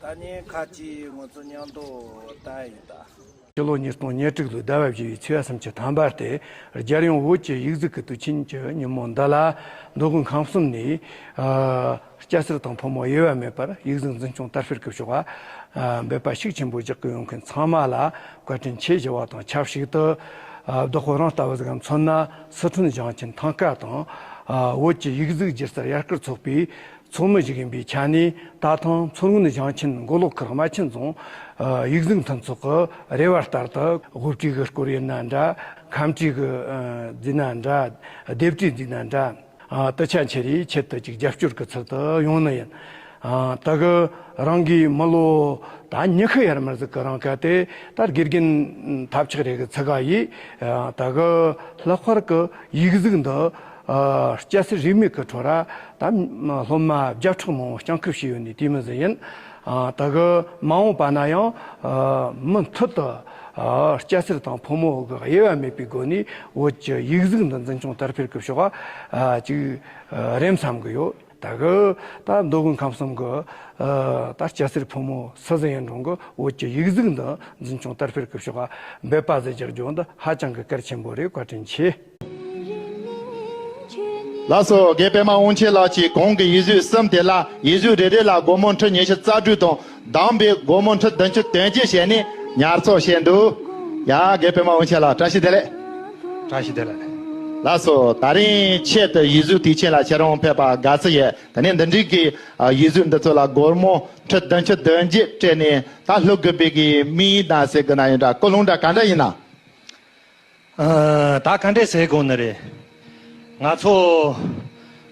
ད་ནི་ཁ་ཅིག་ངོ་ཚོ་ཉམས་རྟོགས་ལྟ་ཡིན་ད། སྤྱི་ལོ་ཉིས་སྟོང་ཉེར་དྲུག་ལོའི་ཟླ་བ་བཞི་བའི་ཚེས་གསུམ་གྱི་དམ་པར་དེ་རྒྱལ་ཡོངས་བོད་ཀྱི་ཡིག་གཟུགས་ཀྱི་དུས་ཆེན་གྱི་ཉིན་མོ་འདི་ལ་མདོ་དགོན་ཁང་གསུམ་ནས་སྐྱ་སེར་དང་ཕོ་མོ་དབྱེ་བ་མེད་པར་ཡིག་གཟུགས་འཛིན་སྐྱོང་དར་སྤེལ་གྱི་ཤོག་འབེབས་པ་ཤུགས་ཆེན་པོ་རྒྱག་གི་ཡོད་མཁན་ཚང་མ་ལ་བཀའ་དྲིན་ཆེ་ཞུ་བ་དང་ཆབས་ཞིག་ཏུ་རྡོ་ཁོ་རང་ལྟ་བུ་ཞིག་ལ་མཚོན་ན་སི་ཁྲོན་ཞིང་ཆེན་ཐང་ཀ་དང་བོད་ཀྱི་ཡིག་གཟུགས་སྒྱུ་རྩལ་ཡར་སྐུལ་ཚོགས་པའི་ཚོགས་མི་ཞིག་ཡིན་པའི་ཆ་ནས་ད་ཐེངས་མཚོ་སྔོན་ཞིང་ཆེན་མགོ་ལོག་ཁུལ་རྨ་ཆེན་རྫོང་ཡིག་གཟུགས་མཐུན་ཚོགས་ཀྱི་རེ་བ་ལྟར་དུ་དབུ་ཁྲིད་ཀྱི་སྐོར་ཡིན་ན་འདྲ་ཁམས་ཁྲིད་ཀྱི་འཛིན་ན་འདྲ་སྡེབ་ཁྲིད་འཛིན་ན་འདྲ་དུ་ཆ་འཕྱེ་རེའི་ཆེད་དུ་ཅིག་རྒྱབ་སྐྱོར་གྱི་ཚུལ་དུ་ཡོང་ནི་ཡིན། དེ་ག་རང་གིས་མི་ལོ་ད་ཉི་ཤུ་ཡར་མར་ཟིག་གི་རང་སྐལ་དེ་ལྟར་དགེ་རྒན་ཐབས་ཆག་རེ་གི་ཚིག་ག་ཡིས་དེ་ག་ལྷག་པར་གྱི་ཡིག་གཟུགས་འདི་སྐྱ་སེར་རིས་མེད་ཀྱི་ཁྲོ་ར་དང། སློབ་མ་བརྒྱ་ཕྲག་མང་བོ་སྐྱང་ཁུབ་བྱས་ཡོད་ནི་དེའི་མི་ཟེར་ཡིན། ད་གི་མ་འོངས་པ་ན་ཡང་མུ་མཐུད་དུ་སྐྱ་སེར་དང་ཕོ་མོ་གི་དབྱེ་བ་མེད་པའི་སྒོ་ནས་བོད་ཀྱི་ཡིག་གཟུགས་འདི་འཛིན་སྐྱོང་དར་འཕེལ་གྱི་ཕྱོགས་གཅིག་རེད་བསམ་གི་ཡོད། ད་གི་ད་མདོ་དབུས་ཁམས་གསུམ་གྱི་ད་སྐྱ་སེར་ཕོ་མོ་སུ་ཟིན་ཡིན་རུང་གི་བོད་ཀྱི་ཡིག་གཟུགས་འདི་འཛིན་སྐྱོང་དར་འཕེལ་གྱི་ཕྱོགས་འབད་པ་བཟོས་རྒྱག་རྒྱུ་འདི་ཧ་ཅང་གི་གལ་ཆེན་པོ་རེད་བཀའ་དྲིན་ཆེ། ལགས་སོ། དགེ་པདྨ་དབང་ཆེན་ལགས་ཀྱིས་གོང་གི་ཡིད་བཟོད་གསུམ་དེ་ལ་ཡིད་བཟོད་རེ་རེ་ལ་སྒོར་མོ་ཁྲི་ཉི་ཤུ་རྩ་དྲུག་དང་གདམས་པའི་སྒོར་མོ་ཁྲི་བདུན་ཅུ་དོན་གཅིག་བྱས་ནས་ཉར་ཚགས་བྱས་འདུག་ཡ། དགེ་པདྨ་དབང་ཆེན་ལགས་བཀྲ་ཤིས་བདེ་ལེགས། བཀྲ་ཤིས་བདེ་ལེགས། ལགས་སོ། ད་རིང་ཆེད་དུ་ཡིད་བཟོད་དུས་ཆེན་ལ་ཁྱེད་རང་ཕེབས་པ་དགའ་བསུ་ཡོད་དེ་ནས་འདི་འདྲིའི་གི་ཡིད་བཟོད་འདི་ཚོ་ལ་སྒོར་མོ་ཁྲི་བདུན་ཅུ་དོན་གཅིག་སྤྲད་ནས་ད་ལྷོ་གུ་པའི་གི་དམིགས་ཡིག་དང་ཟེར་གི་ན་ཡོད་འདྲ་ཀོ་ལུང་འདྲ་ག་འདྲ་ཡིན་ན། ད་ག་འདྲས་ཟེར་དགོས་ནི་རེད། ང་ཚོ་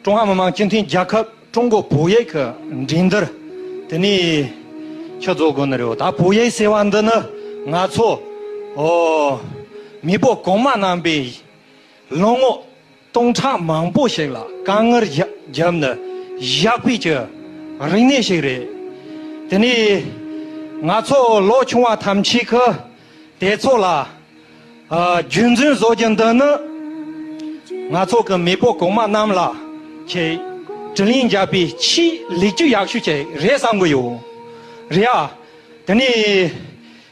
ཀྲུང་ཧྭ་མི་དམངས་སྤྱི་མཐུན་རྒྱལ་ཁབ་ཀྲུང་གོ་བོད་ཡིག་གི་འགྲན་སྡུར་དེ་ནས་ཕྱི་རྫོགས་དགོས་ནི་རེད། ད་བོད་ཡིག་ཟེར་བ་འདི་ནི་ང་ཚོ་མི་བུ་གོང་མ་རྣམས་པའི་ལོ་ངོ། སྟོང་ཕྲག་མང་པོ་ཞིག་ལ་དཀའ་ངལ་བརྒྱབ་ནས་བཞག་པའི་ཀྱི་རིག་གནས་ཤིག་རེད། དེ་ནས་ང་ཚོ་ལོ་ཆུང་བ་ཐམས་ཅད་ཀྱི་དེ་ཚོ་ལ་རྒྱུན་འཛིན་བཟོ་རྒྱུ་འདི་ནི་ང་ཚོ་གི་མེས་པོ་གོང་མ་རྣམས་ལ་ཆེས་དྲིན་ལན་བརྒྱབ་པའི་ཆེས་ལེགས་སྐྱེས་ཡག་ཤོས་ཅིག་རེད་བསམ་གྱི་ཡོད་རེད་ཨ། དེ་ནས།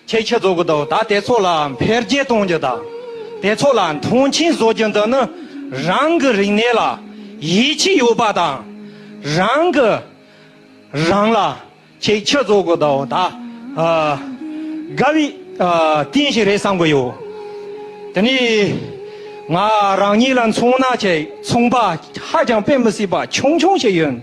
ཁྱེད་ཀྱིས་རྫོགས་སྐུ་དང་དེ་ཚོ་ལའང་འཕེལ་རྒྱས་གཏོང་རྒྱུ་དང། དེ་ཚོ་ལ་མཐོང་ཆེན་བཟོ་རྒྱུ་འདི་ནི་རང་གི་རིག་གནས་ལ་ཡིད་ཆེས་ཡོད་པ་དང། རང་གི་རང་ལ་ཁྱེད་ཀྱིས་རྫོགས་སྐུ་དང་དགའ་བའི་རྟེན་ཞིག་རེད་བསམ་གྱི་ཡོད། དེ་ནི་ང་རང་ཉིད་ལ་མཚོན་ན་ཁྱེད་མཚུངས་པ་ཧ་ཅང་དཔེ་མི་སྲིད་པ་ཆུང་ཆུང་ཞིག་ཡིན།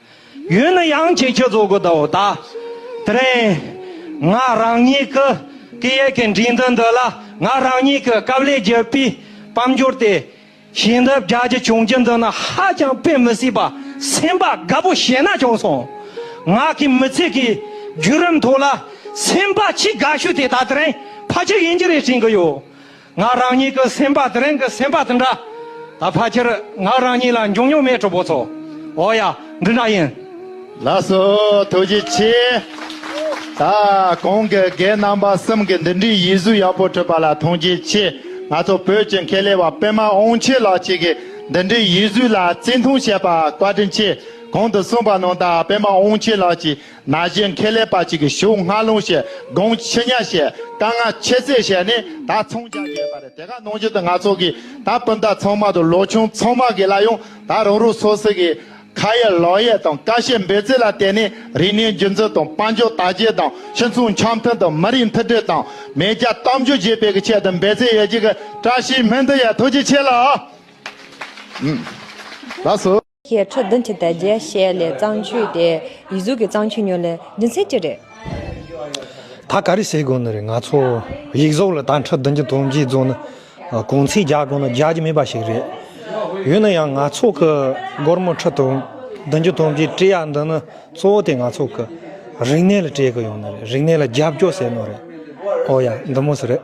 ཡོད་ན་ཡང་ཁྱེད་ཁྱོད་ཚོ་གོ་དོ་ད། དེ་རིང། ང་རང་ཉིད་ཀྱི་སྐད་ཡིག་གི་འགྲིག་འདུན་འདི་ལ་ང་རང་ཉིད་ཀྱི་སྐབས་ལས་བརྒྱུད་པའི་དཔལ་འབྱོར་དེ་ཞིང་འདི་བརྒྱ་ཅི་བྱུང་གྱི་འདི་ན་ཧ་ཅང་དཔེ་མི་སྲིད་པ་སེམས་པ་དགའ་པོ་བྱས་ན་བྱུང་སོང། ང་གི་མི་ཚེ་གི་བརྒྱུད་རིམ་ཐོག་ལ་སེམས་པ་ཆེས་དགའ་ཤོས་དེ་ད་དེ་རིང་ཕ་ཁྱི་ཡིན་གྱི་རེད་དྲན་གྱི་ཡོད། ང་རང་ཉིད་ཀྱི་སེམས་པ་དེ་རིང་གི་སེམས་པ་དང་འདྲ། ད་ཕ་ཁྱེར་ང་རང་ཉིད་ལ་འབྱུང་ཉུང་མའི་གྲོགས་པོ་ཚོ། འོ་ཡ། འདི་འདྲ་ཡིན། ལགས་སོ། ཐུགས་རྗེ་ཆེ། ད། གོང་གི་རྒན་རྣམ་པ་གསུམ་གྱི་འདི་འདྲའི་ཡིད་གཟུགས་ཡག་པོ་ཕྲིད་པ་ལ་ཐུགས་རྗེ་ཆེ། ང་ཚོ་བོད་ཀྱི་མཁས་ལས་བ་པད་མ་ཨོང་ཆེ་ལགས་གཅིག་གིས་འདི་འདྲའི་ཡིད་གཟུགས་ལ་བརྩི་མཐོང་བྱས་པ་བཀའ་དྲིན་ཆེ། གོང་དུ་གསུངས་པ་ནང་དག་པད་མ་ཨོང་ཆེ་ལགས་ཀྱིས་ན་གཞོན་ཁེ་ལས་པ་གཅིག་གིས་ཞུགས་སྔ་ལུང་ཞེས་དགོངས་ཆེ་ཉག་བཤད་དཀའ་ང་ཆེ་ཟེར་བཤད་ནས་ད་ཚོང་རྒྱག་གི་ཡོད་པ་རེད་དེ་ག་ནང་བཞིན་དུ་ང་ཚོ་གི་ད་སྤུན་ཟླ་ཚང་མ་དང་ལོ་ཆུང་ཚང་མ་གི་ལ་ཡང་ད་རང་རང་སོ་སོ་གི་ཁ་ཡ་ལག་ཡ་དང་ཀ་བཤད་འབོད་ཚིག་ལ་བརྟེན་ནས་རིག་གནས་རྒྱུན་འཛིན་དང་དཔལ་འབྱོར་དར་རྒྱས་དང་སྤྱི་མཚུངས་འཆམ་མཐུན་དང་མི་རིགས་མཐུན་སྒྲིལ་དང་མེས་རྒྱ་གཏམ་རྒྱུད་རྒྱས་སྤེལ་གི་ཆེད་དུ་འབད་རྩོལ་ཡོད་རྒྱུ་གི་བཀྲ་ཤིས་སྨོན་འདུན་ཡ་ཐུགས་རྗེ་ཆེ་ལགས། ཞེས་ཁྲོ་བདུན་གྱི་དལ་རྒྱས་བཤད་ལས་གཙང་ཆུ་དེ་ཡིད་གཟུགས་ཀྱི་གཙང་ཆུ་ཉོ་ལས་རྒྱུ་མཚན་ཅི་རེད། ད་ག་རེ་བྱེད་དགོས་ནི་རེད་ང་ཚོ་ཡིག་གཟུགས་ལ་ད་ཁྲོ་བདུན་གྱི་དོན་རྒྱས་རྫོགས་ནི་གུང་ཚིགས་རྒྱག་དགོས་ན་རྒྱག་རྒྱུ་མེད་པ་ཞིག་རེད། ཡོད་ན་ཡང་ང་ཚོ་གི་སྒོར་མོ་ཁྲོ་བདུན་གྱི་དོན་རྒྱས་སྤྲད་ཡག་འདི་ནི་གཙོ་བོ་དེ་ང་ཚོ་གི་རིག་གནས་ལ་སྤྲད་དགོས་ཡོང་ནི་རེད་རིག་གནས་ལ་རྒྱབ་སྐྱོར་ཟེར་ནོ་རེད་ཨོ་ཡ་འདི་མོ་སུ་རེད།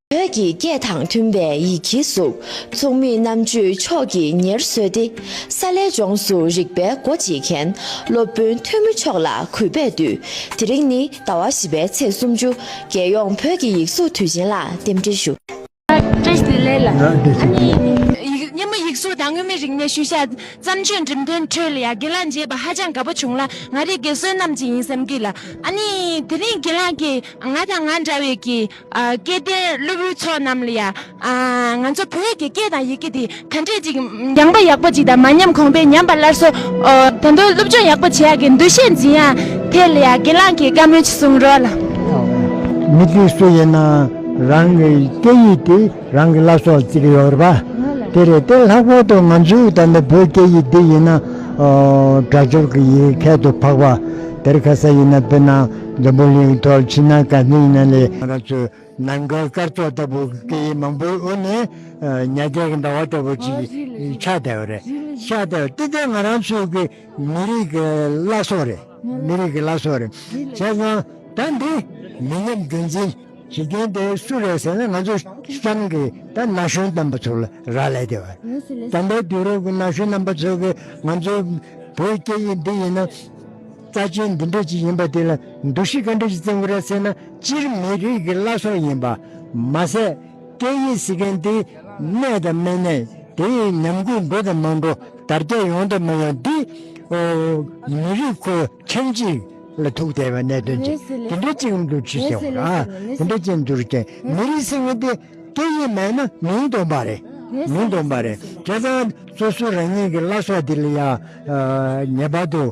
བོད་ཀྱི་སྐད་དང་མཐུན་པའི་ཡི་གེའི་གཟུགས་མཚུངས་མི་རྣམས་ཆོས་ཕྱོགས་ཀྱི་ཉེར་བཟོས་ཏེ་ས་ལས་ལྗོངས་སུ་རིག་པའི་སྒོ་འབྱེད་མཁན་སློབ་དཔོན་ཐོན་མི་མཆོག་ལ་གུས་པས་འདུད་དེ་རིང་ནི་ཟླ་བ་བཞི་པའི་ཚེས་སུམ་ཅུ་རྒྱལ་ཡོངས་བོད་ཀྱི་ཡིག་གཟུགས་དུས་ཆེན་ལ་རྟེན་འབྲེལ་ཞུ། སྙན་མོ་ཡིག་གཟུགས་དང་མངོན་མིན་རིག་གནས་ཤུལ་བཞག་བརྩམས་ཆོས་འགྲེམས་སྟོན་ཁྲོད་ལ་ཡང་དགེ་ལགས་མཇལ་བ་ཧ་ཅང་དགའ་པོ་བྱུང་ལ་ང་རིག་དགེ་བསོད་ནམས་ཅན་ཡིན་བསམ་གྱི་ལ་ཨ་ནི་དེ་རིང་དགེ་ལགས་ཀྱིས་ང་དང་ང་འདྲ་བའི་གི་སྐལ་ལྡན་སློབ་བུའི་ཚོགས་རྣམས་ལ་ཡང། ང་ཚོ་བོད་ཀྱི་སྐད་དང་ཡི་གེ་འདི་ག་འདྲས་ཅིག་སྦྱངས་པ་ཡག་པོ་ཅིག་དང་མ་ཉམས་གོང་འཕེལ་ཉམས་པ་སླར་གསོ། ད་དུང་སློབ་སྦྱོང་ཡག་པོ་བྱེད་ཡག་གི་འདུ་ཤེས་འཛིན་ཡག་དེ་ལ་ཡང་དགེ་ལགས་ཀྱིས་བཀའ་མོལ་ཅིག་གསུང་རོགས་ལ། མི་དེ་སུ་ཡིན་ནའང་རང་གི་སྐད་ཡིག་དེ་རང་གི་བླ་སྲོག་ཅིག་ཡོད་རེད་པ། དེ་རེད་དེ་ལྷག་པར་དུ་ང་ཚོའི་ད་ལྟ་བོད་སྐད་ཡིག་འདི་ཡིན་ན། སྒྲ་སྦྱོར་གྱི་ཡིག་མཁན་དུ་འཕགས་པ་དེར་ཁ་ས་ཡིན་ན་དཔེར་ན། འཛམ་བུ་གླིང་མཐོར་ཕྱིན་ན་དཀའ་སྙིང་ན་ལས། ང་རང་ཚོའི་ནང་སྒོའི་སྐར་ཚོགས་ལྟ་བུ་སྐད་ཡིག་མང་པོའི་དབུ་ནས་ཉལ་རྒྱལ་གྱི་ཟླ་བ་ལྟ་བུ་ཅིག་ཆགས་བསྡད་པ་རེད། ཆགས་བསྡད་པ་དེ་དེ་ང་རང་ཚོའི་གི་མི་རིགས་ཀྱི་བླ་སྲོག་རེད། མི་རིགས་ཀྱི་བླ་སྲོག་རེད། བྱས་ཙང་ད་འདི་མི་ཉམས་རྒྱུན་འཛིན་བྱེད་མཁན་དེ་སུ་རེད་ཟེར་ན་ང་ཚོ་ཤང་གི་ད་ན་གཞོན་རྣམ་པ་ཚོ་ལ་རག་ལས་བསྡད་པ་རེད། དམ་པའི་དུས་རབས་ཀྱི་ན་གཞོན་རྣམ་པ་ཚོ་གི་ང་ཚོའི་བོད་སྐད་ཡིག་འདི་ཡིན་ན། རྩ་ཆེན་འདི་འདྲ་ཅིག་ཡིན་པ་དེ་ལ་འདུ་ཤེས་ག་འདྲ་ཞིག་བཙན་དགོས་ར་ཟེར་ན་སྤྱིར་མི་རིགས་ཀྱི་བླ་སྲོག་ཡིན་པ། མ་ཟད་སྐད་ཡིག་ཟེར་མཁན་དེ་གནས་དང་མི་གནས་དེ་ཉམས་རྒུད་འགྲོ་དང་མ་འགྲོ་དར་རྒྱས་ཡོང་དང་མ་ཡོང་དེ། མི་རིགས་ཁོ་ཁྱིམ་གཅིག་ལ་ཐུག་བསྡད་པའི་གནད་དོན་ཅིག་དེ་འདྲ་ཅིག་གམ་འདུ་ཤེས་ཟེར་བ་དེ་འདྲ་ཅིག་འདུ་རྐྱེན་མི་རིགས་ཟེར་མཁན་དེ་སྐད་ཡིག་མེད་ན་མིང་དོན་པ་རེད་མིང་དོན་པ་རེད་དེ་ཚང་སོ་སོ་རང་ཉིད་ཀྱི་བླ་སྲོག་དེ་ལ་ཡང་ངེས་པར་དུ།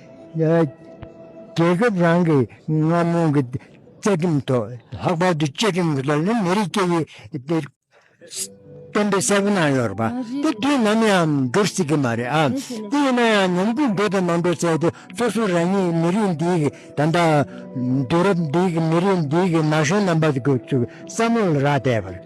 རྒྱལ་ཁབ་རང་གི་རྔ་མོང་གི་བཅའ་ཁྲིམས་ཐོག་ལྷག་པར་དུ་བཅའ་ཁྲིམས་ཀྱི་ཐོག་ནི་མི་རིགས་སྐད་ཡིག་གཏན་འབེབས་གསལ་པོ་གནང་ཡོད་རེད་པ། དེ་དུས་ནམ་ཡང་འགྲུབ་སྲིད་ཀྱི་མ་རེད་ཨ། དེ་ཡིན་ན་ཡང་ཉམས་རྒུད་འགྲོ་དང་མ་འགྲོ་བྱས་ཏེ་སོ་སོ་རང་ཉིད་མི་རིགས་འདིའི་གི་ད་ལྟ་དུས་རབས་འདིའི་གི་མི་རིགས་འདིའི་གི་ན་གཞོན་རྣམ་པ་ཚོའི་བསམ་བློ་ལ་རག་བལྟས་པར།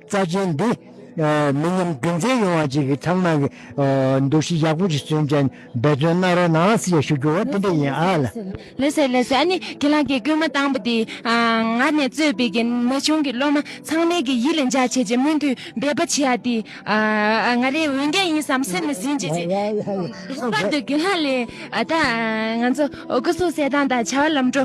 རྩ་ཆེན་འདི། མི་ཉམས་རྒྱུན་འཛིན་ཡོང་བ་བཅས་ཀྱི་ཚང་མ་གི་འདུ་ཤེས་ཡག་པོ་ཞིག་བསྐྲུན་ཅན་འབད་བརྩོན་གནང་རོགས་གནང་ཞེས་ཞུ་རྒྱུ་བ་དེ་འདྲ་ཡིན་ཨ་ལ། ལེགས་སོ་ལེགས་སོ་ཨ་ནི་ཁྱེད་རང་གི་སྐུལ་མ་བཏང་པ་དེས་ང་ནས་གཙོས་པའི་གི་ན་ཆུང་གི་སློབ་མ་ཚང་མའི་གི་ཡིད་ལ་འཇགས་བྱེད་ཀྱི་མུ་མཐུད་འབད་པ་བྱེད་ཡ་དེ་ང་རའི་འོས་འགན་ཡིན་བསམ་སེམས་ལ་ཟིན་བྱེད་ཀྱི། ལྷག་པར་དུ་གི་ལྷག་ལས་ད་ང་ཚོ་སྐུ་སྲོག་གསལ་སྟངས་དང་བྱ་བ་ལམ་འགྲོ།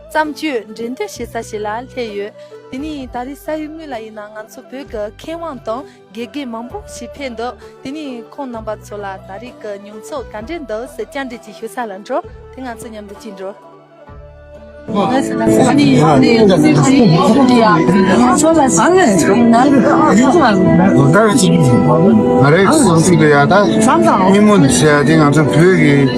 བརྩམས་ཆོས་འགྲན་སྡུར་བྱེད་ས་ཞིག་ལ་སླེབས་ཡོད། དེ་ནི་ད་རེས་ས་ཡུལ་དངོས་ལ་ཡིན་ན་ང་ཚོ་བོད་ཀྱི་མཁས་དབང་དང་དགེ་རྒན་མང་པོ་ཞིག་ཕེབས་འདུག་དེ་ནི་ཁོང་རྣམ་པ་ཚོ་ལ་ད་རེས་ཀྱི་མྱོང་ཚོར་ག་འདྲས་འདུག་ཟེར་བསྐྱར་འབྲེལ་གྱིས་ཞུ་ས་ལ་འགྲོ་དེ་ང་ཚོ་མཉམ་དུ་ཅིག་འགྲོ།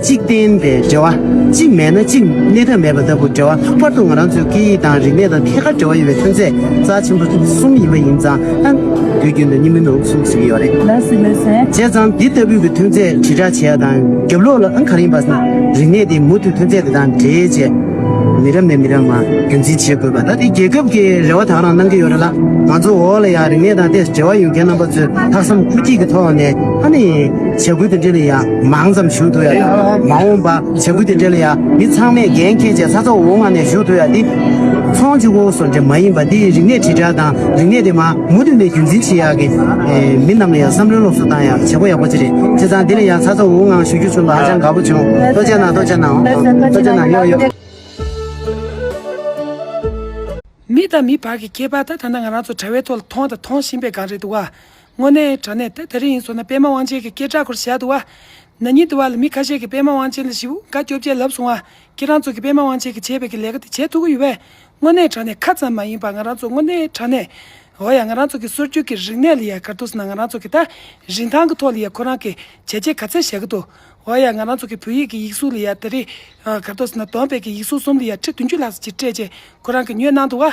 གཅིག་བརྟེན་པའི་འབྲེལ་བ་གཅིག་མེད་ན་གཅིག་གནས་ཐབས་མེད་པ་ལྟ་བུ་འབྲེལ་བ་ལྷག་པར་དུ་ང་རང་ཚོའི་སྐད་ཡིག་དང་རིག་གནས་དང་ཐད་ཀར་འབྲེལ་བ་ཡོད་པའི་ཐོན་རྫས་རྩ་ཆེན་པོ་གསུམ་ཡིན་པ་ཡིན་ཙང་ད་དུས་རྒྱུན་དུ་གཉིས་མིན་ནོ་གསུམ་ཟེར་གྱི་ཡོད་རེད། ལ་སི་ལོས་ཟེར། བྱས་ཙང་འདི་ལྟ་བུའི་གི་ཐོན་རྫས་དྲིལ་བསྒྲགས་བྱས་ཡག་དང་རྒྱབ་ལོག་ལ་ཨང་ག་རིང་བ་ས་རིག་གནས་དེ་མུ་མཐུད་ཐོན་རྫས་དེ་དང་འབྲེལ་བཅས་མི་རབས་ནས་མི་རབས་ངང་རྒྱུན་འཛིན་བྱེད་དགོས་པ་ད་ལྟའི་རྒྱལ་ཁབ་ཀྱི་རེ་བ་དག་རང་གནང་གི་ཡོད་རེད་ལ་ང་ཚོ་འོག་ལ་ཡང་རིག་གནས་དང་དེ་འབྲེལ་བ་ཡོད་མཁན་རྣམ་པ་ཚོས་ལྷག་བསམ་ཁུར་སྐྱེད་ཀྱི་ཐོག་ནས་ཧ་ནི་བྱ་འགུལ་དེ་འབྲེལ་ཡང་མང་ཙམ་ཞུ་འདོད་ཡ་མ་འོངས་པ་བྱ་འགུལ་དེ་འབྲེལ་ཡང་མི་ཚང་མས་འགན་ཁྱེད་ཅག་ས་ཚ་འོག་མ་ནས་ཞུ་འདོད་ཡ་འདི་ཚོང་ཅུ་བོ་སོ་འདྲེ་མ་ཡིན་པ་འདིའི་རིག་གནས་དྲིལ་བསྒྲགས་དང་རིག་གནས་དེ་མ་མུ་མཐུད་ནས་རྒྱུན་འཛིན་བྱེད་ཡག་གི་མི་རྣམས་ལ་ཡང་བསམ་བློའི་སློབ་གསོ་བཏང་ཡག་བྱེད་པོ་ཡག་པོ་དེ་རེད་བྱས་ཙང་འདི་ལ་ཡང་ཚ་ཚ་འོག་འང་ཞུ་རྒྱུ་བྱུང་འདུག་ཧ་ཅང་དགའ་པོ་བྱུང་ལྟོ་ཅན་ནང་ལྟོ་ཅན་ནང་ལྟོ་ཅན་ནང་ཡོག་ཡོག། མི་དང་མི་བར་གྱི་ཁྱད་པར་དང་ཐ་ན་ང་རང་ཚོ་དྲ་བའི་ཐོག་ལ་མཐོང་དང་མཐོང་བཞིན་པའི་སྒང་རེད་འདུག་ག། དངོས་གནས་དྲ་གནས་དེ་ད་རེས་ཡིན་སོང་ན་པད་མ་དབང་ཆེན་གྱི་སྐད་གྲགས་སྐོར་བཞག་འདུག་བ། ན་ཉིན་དུ་བ་ལ་མི་ཁ་ཤས་ཀྱིས་པད་མ་དབང་ཆེན་ལ་བཞི་བོ་འགའ་སྐྱོབ་རྒྱལ་ལབ་སོང་བ། ཁྱེད་རང་ཚོ་གིས་པད་མ་དབང་ཆེན་གྱིས་བྱས་པའི་གི་ལས་ཀ་དེ་བྱེད་ཐུབ་ཀྱི་ཡོད་པས། དངོས་གནས་དྲ་གནས་ཁ་ཙམ་མ་ཡིན་པར་ང་རང་ཚོ་དངོས་གནས་དྲ་གནས། འོ་ཡ་ང་རང་ཚོ་གི་སྲོལ་རྒྱུན་གྱི་རིག་གནས་ལ་ཡ་གར་འདུག་ཟེར་ན་ང་རང་ཚོ་གི་ད་རིན་ཐང་གི་ཐོག་ལ་ཡ་ཁོ་རང་གི་བྱས་རྗེས་ག་ཚད་བཞག་གི་འདུག་འོ་ཡ་ང་རང་ཚོ་གི་བོད་ཡིག་གི་ཡིག་གཟུགས་ལ་ཡ་ད་རེས་ཡ་གར་འདུག་ཟེར་ན་དོན་དཔེ་གི་ཡིག་གཟུགས་གསུམ་ལ་ཡ་ཁྲི་བདུན་ཅུ་ལྷག་ཟེར་གྱི་སྤྲད་རྗེས་ཁོ་རང་གི་ཉོས་གནང་འདུག་བ།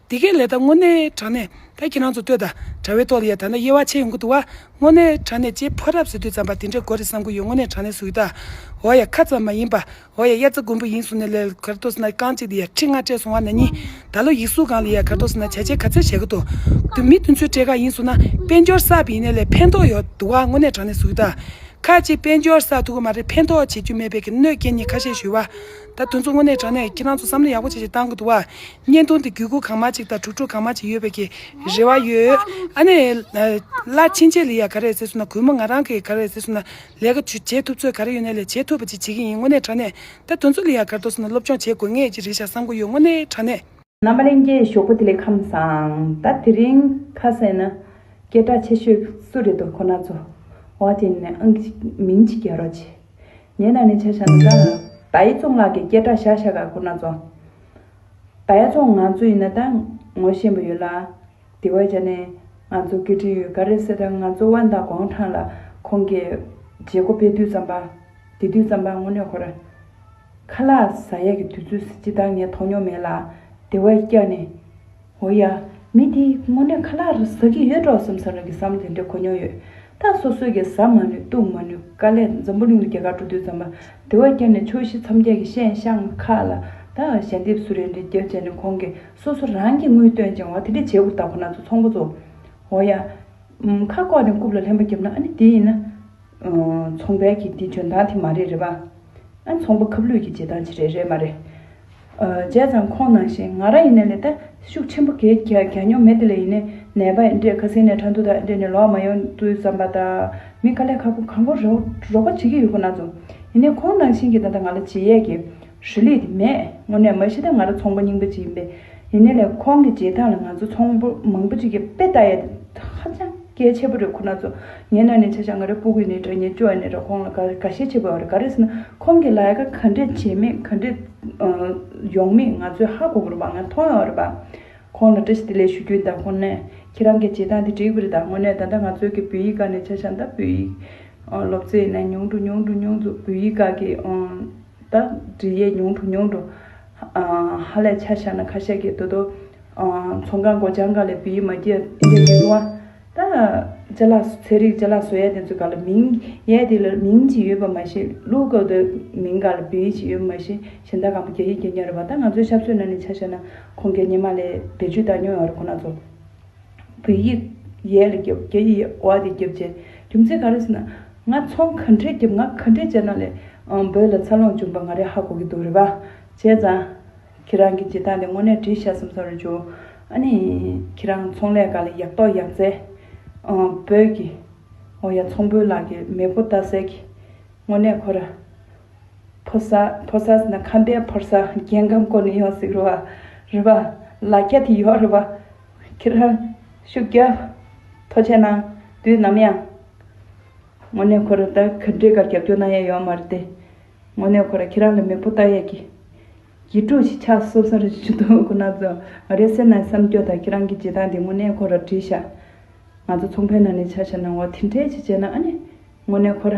འདི་གའི་ལས་ད་དངོས་གནས་དྲང་གནས་ད་ཁྱེད་རང་ཚོ་ལྟོས་དང་དྲ་བའི་ཐོག་ལ་ཡ་ད་ན་དབྱེ་བ་ཕྱེ་ཡོང་གི་འདུག་བ་དངོས་གནས་དྲང་གནས་ཅེས་ཕོ་རབས་ཟེར་དུས་ཙམ་པ་དེ་འདྲའི་གོ་རེ་བསམ་གི་ཡོད་དངོས་གནས་དྲང་གནས་ཟུག་ཡོད་ད་འོ་ཡ་ཁ་ཙམ་མ་ཡིན་པ་འོ་ཡ་དབྱར་རྩ་དགུན་འབུ་ཡིན་གསུངས་ནས་ལས་ཀར་ལྟོས་ཟེར་ན་རྐང་གཅིག་དེ་ཡ་ཁྲི་ལྔ་སྤྲད་སོང་བ་ན་ནི་ད་ལོ་ཡིག་གཟུགས་སྒང་ལ་ཡ་ཁར་ལྟོས་ཟེར་ན་བྱ་བྱེད་ག་ཚད་བྱས་གི་འདུག་མི་དེ་ཚོའི་གྲས་ག་ཡིན་གསུངས་ན་དཔལ་འབྱོར་བསགས་པའི་ཡིན་ནས་ལས་ཕན་ཐོག་ཡོད་འདུག་བ་དངོས་གནས་དྲང་གནས་ཟུག་ཡོད་ད་ཁ་ཅིག་དཔལ་འབྱོར་བསགས་ཐུབ་གི་མ་རེད་ཕན་ཐོག་བྱེད་རྒྱུ་མེད་པའི་གི་གནོད་སྐྱེལ་ནི་ཁ་ཤས་ཞུ་བ་ད་དུང་མཚོ་སྔོན་ནས་དྲངས་ནས་ཁྱེད་རང་ཚོ་བསམ་བློ་ཡག་པོ་ཆེ་ཆེ་གཏང་གི་འདུག་བ། བརྙན་ཐུང་དེ་བརྒྱུད་སྒོ་གང་མ་གཅིག་དང་གྲུབ་ཕྲུག་གང་མ་གཅིག་ཡོད་པའི་གི་རེ་བ་ཡོད། ཨ་ནེ། བླ་ཆེན་ཆེ་ལི་ཡ་ག་རེ་ཟེར་སོང་ན་གུས་མོ་ང་རང་གི་ག་རེ་ཟེར་སོང་ན་ལས་ཀ་བྱེད་ཐུབ་ཚོད་ག་རེ་ཡོད་ན་ལས་བྱེད་ཐུབ་པ་ཅིག་བྱེད་ཀྱི་ཡིན་དངོས་གནས་དྲངས་ནས་ད་དུང་མཚོ་ལི་ཡ་གར་འདུག་སོང་ན་སློབ་སྦྱོང་བྱེད་དགོས་ངེས་ཅིག་རེད་ཤག་བསམ་གི་ཡོད་དངོས་གནས་དྲངས་ནས། ནམ་མ་ལེན་གྱི་ཞོགས་པ་དེ་ལས་ཁམས་བཟང་ད་དེ་རིང་ཁ་ཟས་ནི་སྐད་གྲགས་ཆེ་ཤོས་སུ་རེད་དོ་ཁོ་ན་ཚོ་བ་དེ་ནི་ཨང་གི་མིང་ཅིག་རྒྱལ་རོགས་ཆེ་ཉེ་ན་ནི་ཆ་ཤ་ནི་ད་ད་ཡི་ཙོང་ལགས་ཀྱི་སྐད་གྲགས་ཤ་ཤ་ག་ཁོ་ན་ཚོ་ད་ཡ་ཙོང་ང་ཚོ་ཡི་ན་ད་ངོ་ཤེས་པ་ཡོད་ལ་དེ་བས་ཀྱང་ནི་ང་ཚོ་སྐད་འཕྲིན་ཡོད་ག་རེ་ཟེར་ད་ང་ཚོ་དབན་དང་གོང་ཁྲང་ལ་ཁོང་གི་བྱེད་སྒོ་སྤེལ་དུས་ཙམ་པ་དེ་དུས་ཙམ་པ་དངོས་གནས་ཁོ་ར། ཁ་ལག་ཟ་ཡ་གི་དུས་ཚོད་ཟེར་ཅི་ད་ངས་མཐོང་མྱོང་མེད་ལ། དེ་བས་སྐྱག་ནི། འོ་ཡ། མི་དེས་དངོས་གནས་ཁ་ལག་ཟ་གི་ཡོད་འགྲོ་བསམ་བསམ་རང་གིས་བསམ་དེ་འདྲས་གོ་མྱོང་ཡོད། ད་སོ་སོས་ཀྱང་ཟ་མ་ནུས་བཏུང་མ་ནུས་དཀའ་ལས་འཛམ་བུ་གླིང་ལ་རྒྱ་གར་འགྲོ་དུས་ཙམ་པ་དེ་བས་སྐྱག་ནི་ཕྱོགས་བཞི་མཚམས་བརྒྱད་ཀྱི་ཤན་ཤང་ཁ་ལ་དང་ཞལ་འདེབས་སུ་རེ་འདྲས་རྒྱབ་བྱས་ནས་ཁོང་གིས་སོ་སོ་རང་གིས་དངུལ་བཏོན་ཅིང་བ་དེ་འདྲས་བྱས་ཁུར་ད་ཁོ་ན་ཚོ་ཚོང་པ་ཚོ། འོ་ཡ། ཁ་བཀོག་ནས་རྐུབ་ལ་ལྷན་པ་རྒྱབ་ན་ཨ་ནི་དེ་ཡིན་ན། ཚོང་པའི་གི་འདི་འཇོན་ཐང་དེ་མ་རེད་རེད་པ། ཨ་ཚོང་པ་ཁབ་ལུས་གི་བྱེད་སྟངས་ཅི་རེད་རེད་མ་རེད། བྱས་ཙང་ཁོང་ནང་བཞིན་ང་རང་ཡིན་ནས་ལས་ད་ཤུགས་ཆེན་པོ་གས་གྱ་གྱ་མྱོང་མེད་དེ་ལས་ཡིན་ནས་ནད་པ་འདྲེ་ཁ་སེང་ནས་ཁྲ་འདུ་དག་འདྲེ་ནས་ལོག་མ་ཡོང་དུས་བསམ་པ་དང་མི་ག་ལས་ཁ་ཁོ་གང་པོ་རོགས་པ་བྱེད་གི་ཡོད་ཁོ་ན་ཚོ། ཡིན་ནས་ཁོང་ནང་བཞིན་གི་ད་ད་ང་ལ་བྱེད་ཡས་གི་ཧྲི་ལི་དེ་མས་དངོས་གནས་མ་ཤི་ད་ང་ར་ཚོང་པ་རྙིང་པ་ཅིག་ཡིན་པས་ཡིན་ནའི་ལས་ཁོང་གི་རྗེས་འབྲང་ལ་ང་ཚོ་ཚོང་པོ་མང་པོ་ཅིག་གི་དཔེ་ལྟ་ཡས་ད་ཧ་ཅང་གལ་ཆེ་པོ་རེད་ཁོ་ན་ཚོ་ངའི་ན་ནས་ཆ་བཞག་ང་རའི་སྤུ་གུས་ནས་དགྲ་གཉེན་སྐྱོ་ཡས་ནས་ར་ཁོང་ལ་དགའ་དགའ་ཤས་ཆེ་པོ་ཡོད་རེད་ག་རེ་ཟེར་ན་ཁོང་གི་ལ་ཡ་ཁ་ག་འདྲས་བྱས་མེད་ག་འདྲས་ཡོང་མེད་ང་ཚོས་ཧ་གོ་གོ་རེད་བ་ང་མཐོང་ཡོད་རེད་བ། ཁོང་ལ་བཀྲ་ཤིས་བདེ་ལེགས་ཞུ་རྒྱུ་ཡིན་ད་ཁོང་ནས་ཁྱེད་རང་གི་རྗེས་འབྲང་དེ་འགྲིག་པོ་རེད་ད་དངོས་གནས་ད་ལྟ་ང་ཚོའི་གི་བོད་ཡིག་ག་ནས་ཆ་བཞག་ད་བོད་ཡིག་སློབ་ཚེ་ཡིན་ན་ཉུང་དུ་ཉུང་དུ་ཉུང་དུ་བོད་ཡིག་ག་གི་ད་འབྲི་ཡས་ཉུང་དུ་ཉུང་དུ། ཧ་ལས་ཆ་བཞག་ན་ཁ་ཤས་ཀྱིས་དོ་དོ། མཚོ་འགག་མགོ་བྱང་འགག་ལས་བི་ཡི་མ་ཀྱི་ཨ་འདྲས་ཀྱི་ལུང་བ། ད་ཅ་ལག་ཚེ་རིག་ཅ་ལག་བཟོ་ཡས་དེ་ཚོ་ག་ལ་མིང། ཡས་དེ་ལ་མིང་ཅིག་ཡོད་པ་མ་ཤེས་ལུགས་གོ་དོ། མིང་ག་ལ་བི་ཡི་ཅིག་ཡོད་པ་མ་ཤེས་གཞན་དག་གང་བོ་རྒྱ་ཡིག་རྒྱ་ཉན་རེད་བ་ད་ང་ཚོའི་ཤ་བཟོས་ན་ནི་ཆ་བཞག་ན་ཁོང་རྒྱ་ཉན་མ་ལས་བེད་སྤྱོད་ད་ཉོ་ཡོང་རེད་ཁོ་ན་ཚོ། བོད་ཡིག་ཡས་ལ་རྒྱབ་རྒྱ་ཡིས་ཨོ་ཨ་དེ་རྒྱབ་བྱས་རྒྱུ་མཚན་ག་རེ་ཟེར་ན། ང་ཚོང་ག་འདྲས་རྒྱབ་ང་ག་འདྲས་བྱས་ན་ལས་འབོད་ལ་འཚར་ལོངས་འབྱུང་པ་ང་རེ་ཧ་གོ་གི་འདུག་རེད་པ། བྱས་ཙང། ཁྱེད་རང་གི་བྱེད་སྟངས་དེ་དངོས་གནས་དྲི་ཞག་གསུམ་སོང་རེ་བྱུང། ཨ་ནི། ཁྱེད་རང་ཚོང་ལས་ག་ལ་ཡག་ཏོག་ཡག་མཛད། འབོད་ཀྱི། འོ་ཡ་ཚོང་དཔོན་ལགས་ཀྱི་མེས་པོ་རྡ་སའི་གི། དངོས་གནས་ཁོ་ར། ཕོ་སར་ཕོ་སར་ཟེར་ན་ཁམས་པའི་ཕོར་སར་རྒྱལ་ཁམས་སྐོར་ནས་ཡོང་ཟིག་རོ་བ་རི་བ་ལ་རྒྱ་དེ་ཡོག་རི་བ་ཁྱེད་རང་ཤུགས་རྒྱ་མཐོ་བྱས་ན་དུས་ནམ་ཡང་དངོས་གནས་ཁོ་ར་ད་ག་འདྲེ་གར་རྒྱབ་སྐྱོར་གནང་ཡས་ཡོག་མ་རེད་དེ་དངོས་གནས་ཁོ་ར་ཁྱེད་རང་ལ་མེ་ཕོ་བཏགས་ཡས་གི་གི་དཀྲུགས་ཤིག་ཆགས་སོ་སོ་རེ་ཞུ་འདུག་ཁོ་ན་ཚོ་ང་རའི་སེམས་ནང་གི་བསམ་སྐྱོ་དང་ཁྱེད་རང་གི་བྱེད་སྟངས་དེ་དངོས་གནས་ཁོ་ར་བྲིས་ཤག་ང་ཚོ་ཚོང་ཕན་ནང་ནས་ཆ་ཤ་གནང་བ་དེ་འདྲས་ཅིག་བྱས་ན་ཨ་ནི་དངོས་གནས་ཁོ་ར།